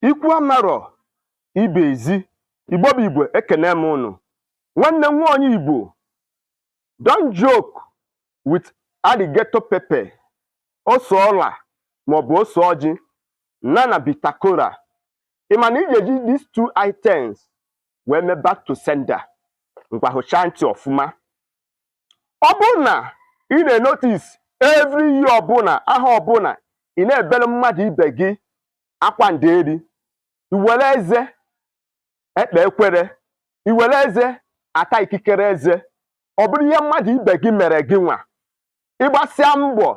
ikwu amarọ ibe ezi igbo bụ igbo ekene m ụnụ nwanne m nwa onye igbo don't joke with alligator pepper ose ọla maọbụ ose ọjị na na bitter kola ị ma na ị ga-eji these two items wee mee back to sender ngwa hụchaa ntị ọfụma ọ bụrụ na ị na-enotice every year ọbụla aha ọbụla ị na-ebere mmadụ ibe gị akwa nderi i were eze ekpe ekwere i were eze ata ikikere eze ọ bụrụ ihe mmadụ ibe gị mere gị nwa ị gbasịa mbọ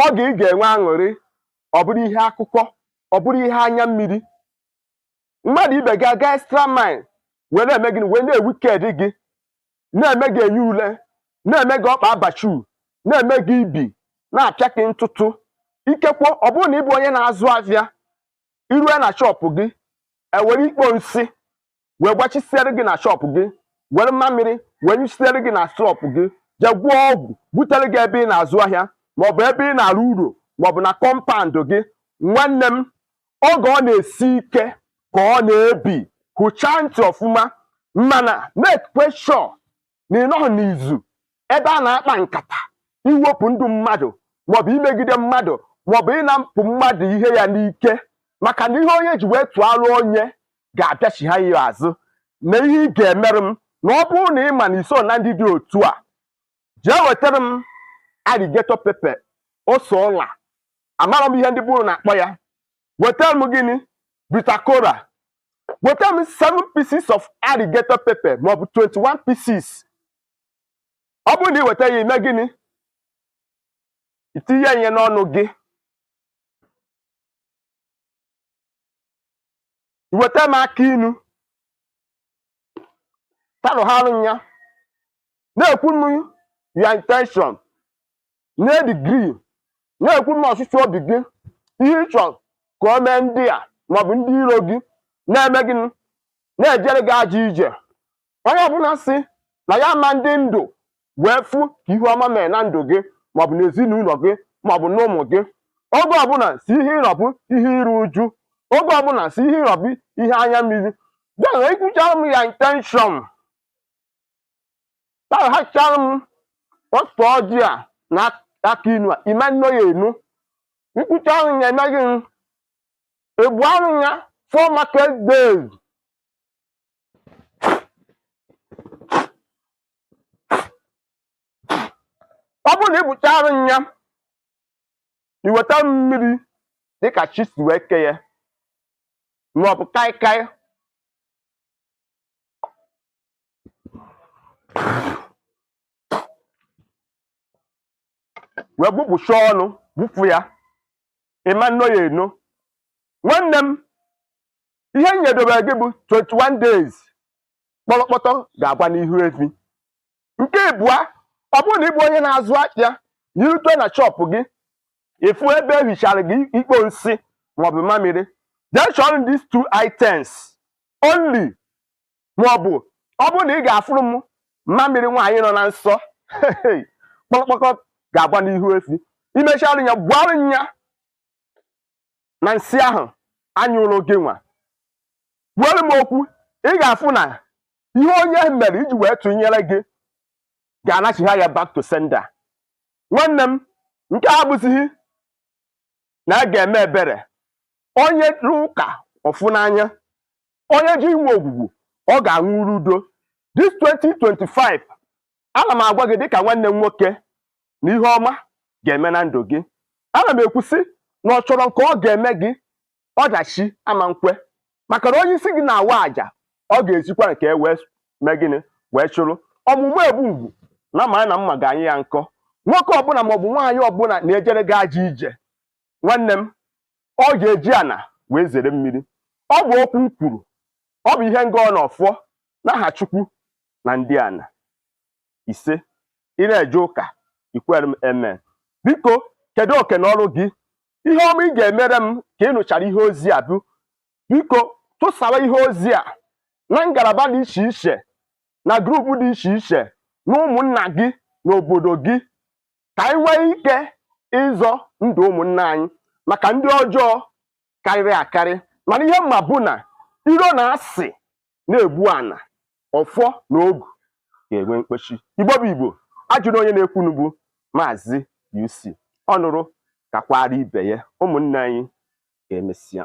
oge ị ga-enwe aṅụrị ọ bụrụ ihe akụkọ ọ bụrụ ihe anya mmiri mmadụ ibe gị aga extra mile wee na-eme gịnị wee na-ewicked gị na-eme gị enyi ule na-eme gị ọkpa abachu na-eme gị ibi na-apịa gị ntụtụ ikekwe ọ bụrụ na ị bụ onye na-azụ afịa i rue na shop gị e were ikpo nsị wee gbachisiere gị na shop gị were mmamịrị wee nyụchisiere gị na shop gị jee gwọọ ọgwụ butere gị ebe ị na-azụ ahịa maọbụ ebe ị na-arụ ọrụ maọbụ na compound gị nwanne m oge ọ na-esi ike ka ọ na-ebi hụchaa ntị ọfụma mana make sure na ị nọghị n'izu ebe a na-akpa nkata iwepụ ndụ mmadụ maọbụ imegide mmadụ maọbụ ịnapụ mmadụ ihe ya n'ike maka na ihe onye ji wee tụọlụ onye ga-abịachigha ya azụ na ihe ị ga-emerụ m na ọ bụrụ na ị ma na i so na ndị dị otu a jee wetara m alligator pepper ose ọla amarọ m ihe ndị be unu na-akpọ ya wetara m gịnị bitter kola wetara m 7 pieces of alligator pepper maọbụ 21 pieces ọ bụrụ na ị weta ya i mee gịnị i tinye ihe n'ọnụ gị i weta m akị inu talụgharụ m ya na-ekwu m your intention na-edecree na-ekwu m ọchịchọ obi gị ihe ị chọrọ ka o mee ndị a maọbụ ndị iro gị na-eme gị na-ejere gị ajọ ije onye ọbụla sị na ya ma-adị ndụ wee fụ ka ihe ọma mere na ndụ gị maọbụ n'ezinụlọ gị maọbụ n'ụmụ gị oge ọbụla si ihe ịrọbụ ihe iru uju oge ọbụla si ihe ịrọbụ ihe anya mmiri then i kwuchara m your intention taghachara m ose ọjị a na akị inu a ime nno ya enu i kwuchara m ya emeghị m ebu arụ ya four market days ọ bụrụ na ị bụchara nya iweta mmiri dịka chi si wee ke ya maọbụ kaikai wee gbụpụcha ọnụ gbụfu ya ị ma nno ya eno nwanne m ihe m nyedobere gị bụ 21 days kpọrọkpọtọ ga-agba n'ihu efi nke ịbụa ọ bụrụ na ị bụ onye na-azụ ahịa na irute na shọpụ gị ịfụ ebe ehichara gị ikpo nsị maọbụ mamịrị jee chọrọ m these two items only maọbụ ọ bụrụ na ị ga-afụrụ m mamịrị nwaanyị nọ na nsọ kpọrọkpọtọ ga-agba n'ihu efi imechara ya gbuarụ ya na nsị ahụ anyụrụ gị nwa kwuoro m okwu ị ga-afụ na ihe onye mere iji wee tụnyere gị ga-anachigha ya back to sender nwanne m nke a abụzighị na a ga-eme ebere onye rụọ ụka ọ fụ n'anya onye ji inwe ogwugwu ọ ga-aṅụrụ udo this 2025 ana m agwa gị dịka nwanne m nwoke na ihe ọma ga-eme na ndụ gị ana m ekwusị na ọ chọrọ nke ọ ga-eme gị ọdachi ama nkwe maka na onye isi gị na-awa àjà ọ ga-ezikwa nke e wee mee gịnị wee chụrụ ọmụ mma egbu ngwu nya mara na mma ga-anyị ya nkọ nwoke ọbụla maọbụ nwaanyị ọbụla na-ejere gị ajọ ije nwanne m ọ ga-eji ana wee zere mmiri ọ bụ okwu m kwuru ọ bụ ihe m gọ na ọfọ n'aha chukwu na ndị ana ise ị na-eje ụka ikwere m amen biko kedu oke na ọrụ gị ihe ọma ị ga-emere m ka ị nụchara ihe ozi a bụ biko tụsara ihe ozi a na ngalaba dị iche iche na grupu dị iche iche na ụmụnna gị na obodo gị ka anyị nwee ike ịzọ ndụ ụmụnna anyị maka ndị ọjọọ karịrị akarị mana ihe m ma bụ na iro na asị na-egbu ana ọfọ na ogu ga-enwe mkpechi igbo bụ igbo a jụrụ onye na-ekwunu bụ maazị UC ọ nụrụ kakwara ibe ya ụmụnne anyị ka emesịa